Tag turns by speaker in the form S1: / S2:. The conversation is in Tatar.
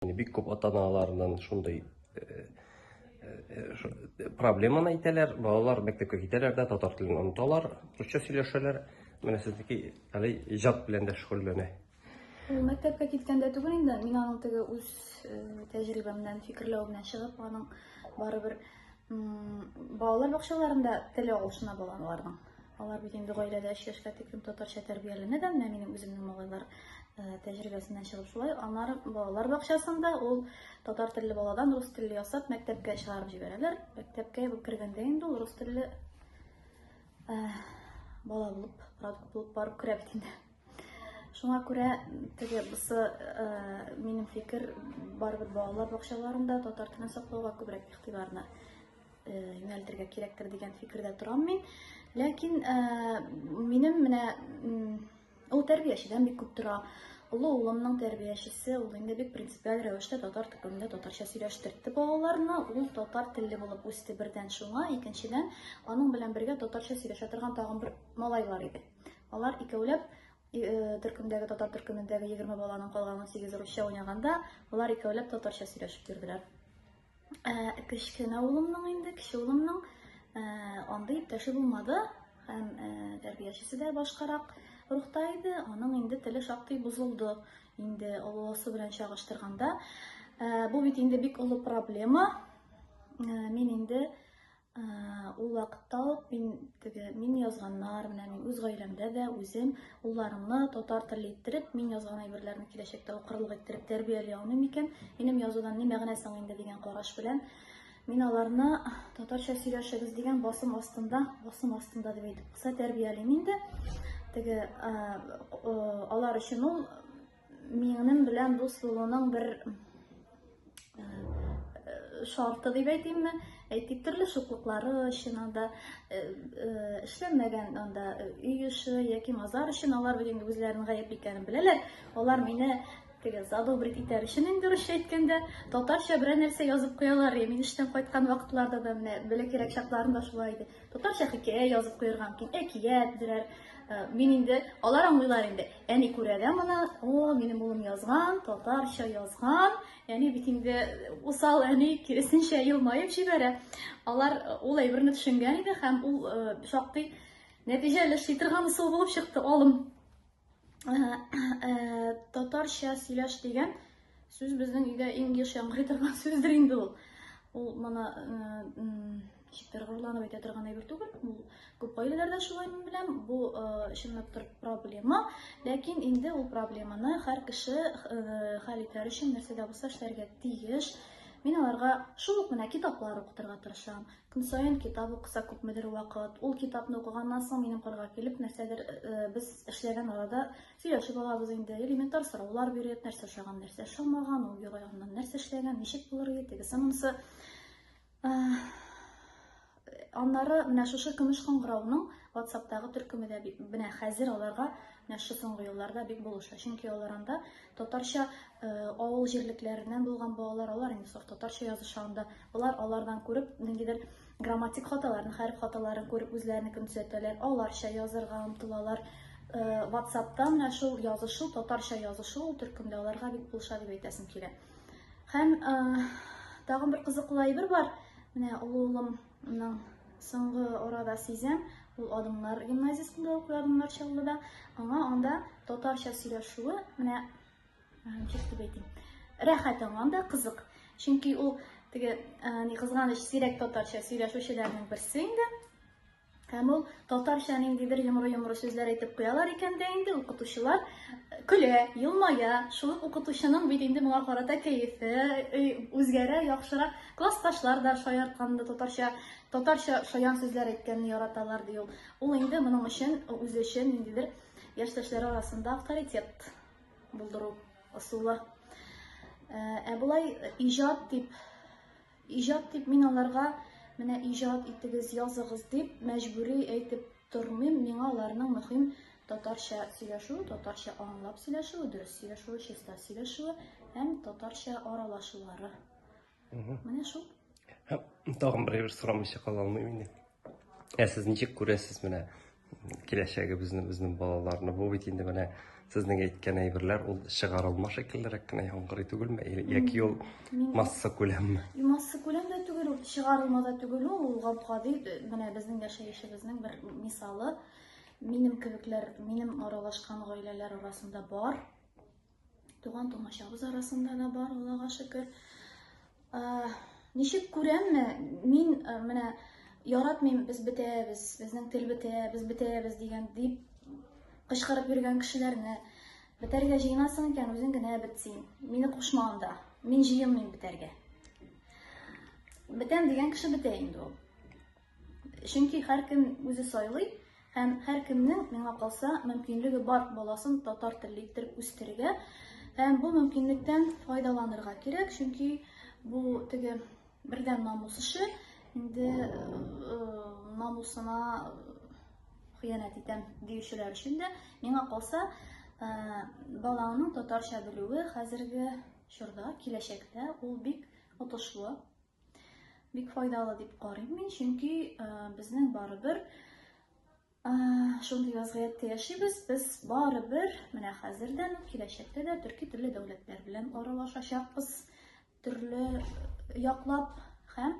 S1: Бик күп ата-аналарның шундый э, э, проблеманы әйтәләр. Балалар мәктәпкә китәләр дә татар телен оныталар, русча сөйләшәләр. Менә сезнеке әле иҗат белән дә шөгыльләнә. Ул
S2: мәктәпкә киткәндә түгел инде, мин аның теге үз э, тәҗрибәмнән, фикерләвемнән чыгып, аның барыбер Балалар бакчаларында теле алышына балаларның. Алар бит инде гаиләдә 3 яшькә тиклем татарча тәрбияләнә дә, менә минем үземнең малайлар э, тәҗрибәсеннән чыгып шулай. Аннары балалар бакчасында ул татар телле баладан рус телле ясап мәктәпкә чыгарып җибәрәләр. Мәктәпкә кергәндә инде ул рус телле э, бала булып, продукт булып барып керә бит инде. Шуңа күрә теге бусы минем фикер барыбер балалар бакчаларында татар телен саклауга күбрәк игътибарны юнәлтергә кирәктер дигән фикердә торам мин. Ләкин минем менә ул тәрбиячедән бик күп тора. Олы улымның тәрбиячесе ул инде бик принципиаль рәвештә татар төркемендә татарча сөйләштерде балаларны. Ул татар телле булып үсте бердән шуңа, икенчедән аның белән бергә татарча сөйләшә торган тагын бер малайлар иде. Алар икәүләп э, төркемдәге татар төркемендәге 20 баланың калган 18 русча уйнаганда, алар икәүләп татарча сөйләшеп йөрделәр. Ә, э, кечкенә улымның инде, кече улымның ә, э, андый иптәше булмады һәм ә, тәрбиячесе дә башкарак рухта иде, аның инде теле шактый бозылды. Инде олысы белән чагыштырганда, ә, бу бит инде бик олы проблема. Ә, мин инде Ул вакытта ук мин теге мин язганнар, менә мин үз гаиләмдә дә үзем улларымны татар теле иттереп, мин язган әйберләрне киләчәктә укырлык иттереп тәрбияли алмыйм микән? Минем язудан ни мәгънә соң инде дигән караш белән мин аларны татарча сөйләшегез дигән басым астында, басым астында дип әйтеп кыса тәрбиялим инде. Теге алар өчен ул Минем белән дус булуның бер шарты дип әйтимме, әйтик, төрле шуклыклары өчен анда эшләмәгән анда өй эше яки мазар өчен алар бүген үзләренең гаепле икәнен беләләр. Алар мине теге задобрить итәр өчен инде дөресчә әйткәндә татарча берәр нәрсә язып куялар. Мин эштән кайткан вакытларда да менә бәләкәйрәк чакларында шулай иде. Татарча хикәя язып куярга мөмкин, әкият, берәр. Э, мин инде, алар аңлыйлар инде. Әни күрә дә моны, о, минем улым язган, татарча язган. Әни бит инде усал әни киресенчә елмаеп җибәрә. Алар э, ул әйберне төшенгән иде һәм ул э, шактый нәтиҗәле эшли торган усул булып чыкты алым. татарча сөйләш дигән сүз безнең өйдә иң еш яңгырый торган сүздер инде ул. Ул моны читтер горурланып әйтә торган әйбер түгел. Ул күп гаиләләрдә шулай мин беләм. Бу чынлап тор проблема. Ләкин инде ул проблеманы һәр кеше хәл итәр өчен нәрсә дә булса эшләргә тиеш. Мин аларга шул ук менә китаплар укытырга тырышам. Көн саен китап укыса күпмедер вакыт, ул китапны укыганнан соң минем кырга килеп, нәрсәдер э, э, без эшләгән арада сөйләшеп алабыз инде. Элементар сораулар биреп, нәрсә ошаган, нәрсә ошамаган, ул юрайганнан нәрсә эшләгән, ничек булыр иде, тегесе монысы. Э, аннары менә шушы көмеш кыңгырауның WhatsApp-тагы төркеме дә менә хәзер аларга менә шу соңгы елларда бик булыша. Чөнки алар анда татарча э, авыл җирлекләреннән булган балалар, алар инде саф татарча языша анда. Алар алардан күреп, ниндидер грамматик хаталарын, хәреф хаталарын күреп үзләренекен төзәтәләр, аларча язырга омтылалар. WhatsApp-та менә шул язышу, татарча язышу ул төркемдә аларга бик булыша дип әйтәсем килә. Һәм тагын бер кызыклы әйбер бар. Менә олы улымның соңгы арада сизәм, ул Адымнар гимназиясендә укый, Адымнар Чаллыда. Аңа анда татарча сөйләшүе, менә Рәхәт аңа да кызык. Чөнки ул теге ни кызганыч сирәк татарча сөйләшүчеләрнең берсе инде. Һәм ул татарча ниндидер йомры-йомры сүзләр әйтеп куялар икән дә инде укытучылар көлә, елмая. Шул укытучының бит инде моңа карата кәефе үзгәрә, яхшырак. Классташлар да шаяртканда татарча татарча шаян сүзләр әйткәнне яраталар ди ул. Ул инде моның өчен үзе өчен ниндидер яшьтәшләре арасында авторитет Булдыру ысулы. Ә ә болай иҗат дип, иҗат дип мин аларга менә иҗат итегез, языгыз дип мәҗбүри әйтеп тормыйм. Миңа аларның мөһим татарча сөйләшүе, татарча аңлап сөйләшүе, дөрес сөйләшүе, чиста сөйләшүе һәм татарча аралашулары Угу. Менә шул. Һәм
S1: тагын берәр сорамыйча кала алмыйм инде. Ә сез ничек күрәсез менә киләчәгебезне, безнең балаларны? Бу бит инде менә сезнең әйткән әйберләр ул чыгарылма шикеллерәк кенә яңгырый түгелме? Яки ул масса күләмме? Масса күләм дә
S2: түгел, ул чыгарылма да түгел, ул гап-гади менә безнең яшәешебезнең бер мисалы. Минем кебекләр, минем аралашкан гаиләләр арасында бар. Туган тумачабыз арасында да бар, Аллага шөкер. Ничек күрәмме, мин менә яратмыйм, без бетәбез, безнең тел бетә, без бетәбез дигән дип кычкырып йөргән кешеләрне бетәргә җыенасың икән, үзең генә бетсин. Мине кушма анда. Мин җыенмыйм бетәргә. Бетәм дигән кеше бетә инде ул. Чөнки һәркем үзе сайлый һәм һәркемнең, миңа калса, мөмкинлеге бар баласын татар телле иттереп үстерергә һәм бу мөмкинлектән файдаланырга кирәк, чөнки бу теге бердән намус эше, инде э, намусына хыянәт итәм диючеләр өчен дә, миңа калса, э, балаңның татарча белүе хәзерге чорда, киләчәктә ул бик отышлы Бик файдалы дип карыйм мин, чөнки э, безнең барыбер э, шундый вазгыятьтә яшибез. Без барыбер менә хәзердән, киләчәктә дә төрки телле дәүләтләр белән аралашачакбыз, төрле яклап һәм